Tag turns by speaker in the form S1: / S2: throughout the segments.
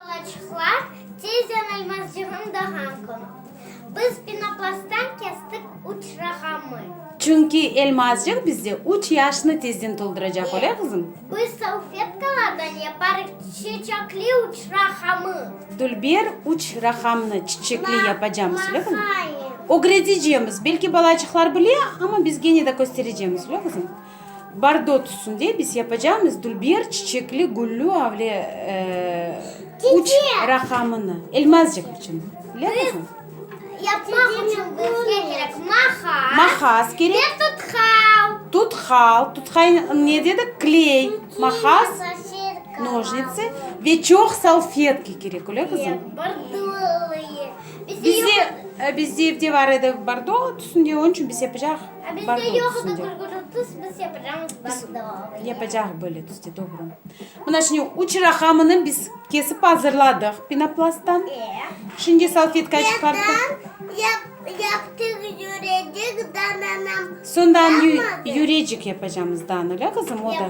S1: Laçıqlar tezden almaz cığın dağan kün. Biz pinoplasttan kestik üç raqamı. Çünki
S2: elmazcıq bizde üç yaşnı tezden tolduracaq, öyle qızım? Biz salfetkalardan
S1: yaparıq çiçekli üç raqamı. Dülber,
S2: üç raqamnı çiçekli yapacamız, öyle qızım?
S1: Ögretecemiz,
S2: belki balaçıqlar bile, amma biz gene de kösterecemiz, öyle qızım? Bordo tüsünde biz yapacağımız dülber çiçekli güllü avle üç raqamını, elmazcıq içün. Yapmaq içün
S1: bizge kerek mahas. Mahas kerek.
S2: Ve tutqal.
S1: Tutqal. Tutqal
S2: ne dedik? Kley. Mahas, nožnitsı ve çoq salfetka kerek, öyle qızım? Bordolıyı. Bizde evde bar edi bordo tüsünde, onıñ içün biz yapacağıq. Bardı o tüsünde.
S1: Biz yapacağız böyle tüsde,
S2: doğru. Mına şimdi üç raqamını biz kesip azırladıq penoplasttan. Şimdi salfetkaya çıqarttıq.
S1: Sondan
S2: yürecik yapacağımız danele qızım, o da.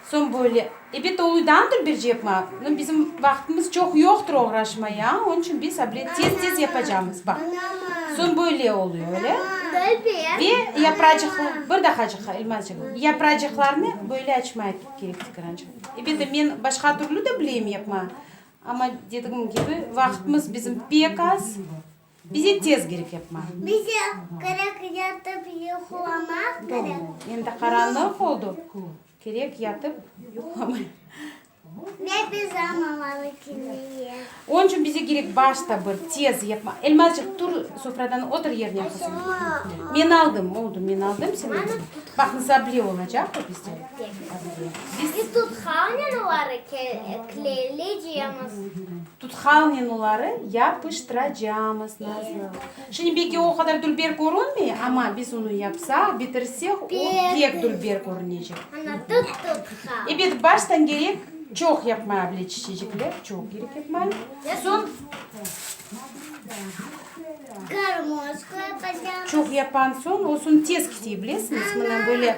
S2: Soñ böyle, ebet ol uydandır bir cep ma, no bizim vaqtımız çoq yoqtır oğraşmaya, onıñ içün biz abret tez-tez yapacamız, bax. Soñ böyle oluyo, öyle. Ve yapracıqlar, bir daqacıqqa, İlmazcığım, yapracıqlarnı böyle açmaya kerek tıkırançıq. Ebet e, men başqa türlü de bileyim yapma, amma dedigim kibi, vaqtımız bizim pek az. Bize tez kerek yapmaq. Bize
S1: kerek yatıp yuqlamaq kerek. Endi qaranlıq
S2: oldı, kerek yatıp yuqlamaq.
S1: Ve pijam almalı kimneye. Onıñ içün bize
S2: kerek baş tabır, tez yapmaq. Elmazcıq, tur sofradan, otur yerine qızım. Men aldım, oldı, men aldım seni. Baq, nızable olacaq bu bizde. Biz.
S1: Biz tut havnenıları, kleyli ciyemiz. Tutqal
S2: menuları yapıştıracamız, nazı. Şimdi belki o qadar dülber körünmey, amma biz onı yapsaq, bitirsek, o pek dülber körünecek. Ana, tut
S1: tutqal. Ebet, baştan
S2: kerek çoq yapmaya bile çiçecikler, çoq kerek yapmaya. Soñ,
S1: Garmoz qoyacam. çoq yapan soñ,
S2: o soñ tez kite, bilesiñiz, mına böyle.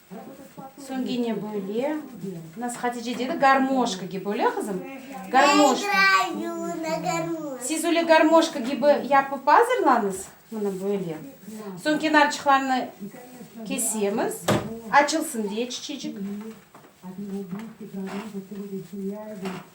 S2: Soñ gene böyle. Nasıl Hatice dedi, garmoşka kibi, öyle qızım? Garmoşka.
S1: Siz öyle garmoşka
S2: kibi yapıp azırlañız. Mına böyle. Soñ kenarçıqlarını kesemiz. Açılsın diye çiçecik.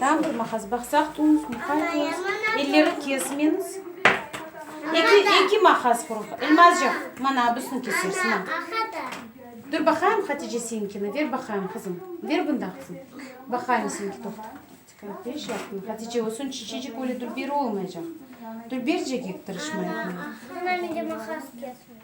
S1: Tam bir
S2: maqas baqsaq tuz, muqay tuz, elleri kesmeniz. Eki, eki maqas quruq. Elmazcıq, mana abısını kesersiz, ma.
S1: Dur baqayım
S2: Hatice seninkini, ver baqayım qızım. Ver bunda qızım. Baqayım seninki toqta. Diqqat ber şey yapma. Hatice o son çiçecik öyle dülber olmaycaq. Dülbercek yek tırışma yapma. Ana mende maqas kesmedi.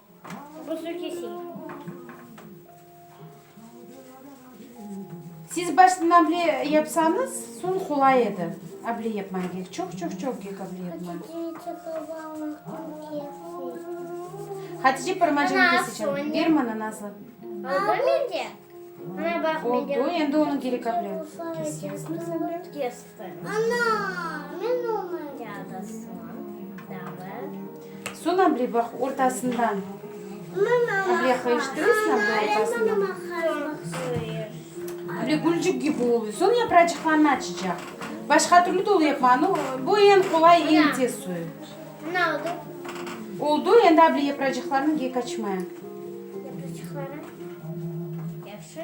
S2: Siz baştan able yapsañız, soñ qolay edi. Able yapmañ kek, çoq-çoq-çoq kek able yapmañ. Hatice parmacığını keseceğim. Ber maña, Nazlı.
S1: Oldu, endi onı
S2: gerek able. Kes, yasnı ble.
S1: Ana! Men onıñ
S2: yadısıman dağım. Soñ ablevıq ortasından ableha iştirsem de ortasından. Böyle gülcük kibi oluy. Soñ yapracıqlarını açacaq. Başqa türlü de olayıp maña. No, bu eñ qolay, eñ tez suyu. Ana,
S1: oldu.
S2: Oldu, endi able yapracıqlarını kek açmaya. Yapracıqları?
S1: Yahşı.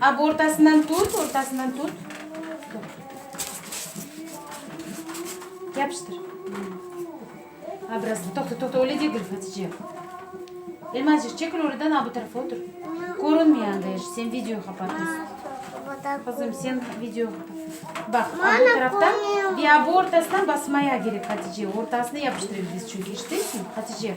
S1: Ab
S2: ortasından tut, ortasından tut. Yapıştır. Ab biraz, toqta, toqta, öyle degil, Hatice. Elmazcıq, çekil oradan, ab bu tarafa otur. Körünmey anda eş, sen video qapatasın. Qızım, sen video qapatasın. Baq, ab bu taraftan, ve ab ortasından basmaya kerek, Hatice. Ortasına yapıştırır biz çünki, eşitesin, Hatice?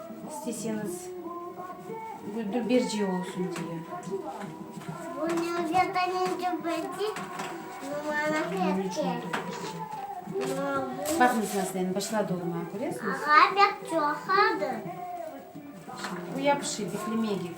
S2: İsteseñiz Güldu Berdiye olsun diye. Baqıñız nasıl endi başladı olmağa, köresiñiz? Şimdi bu yapışıydı, plimegif.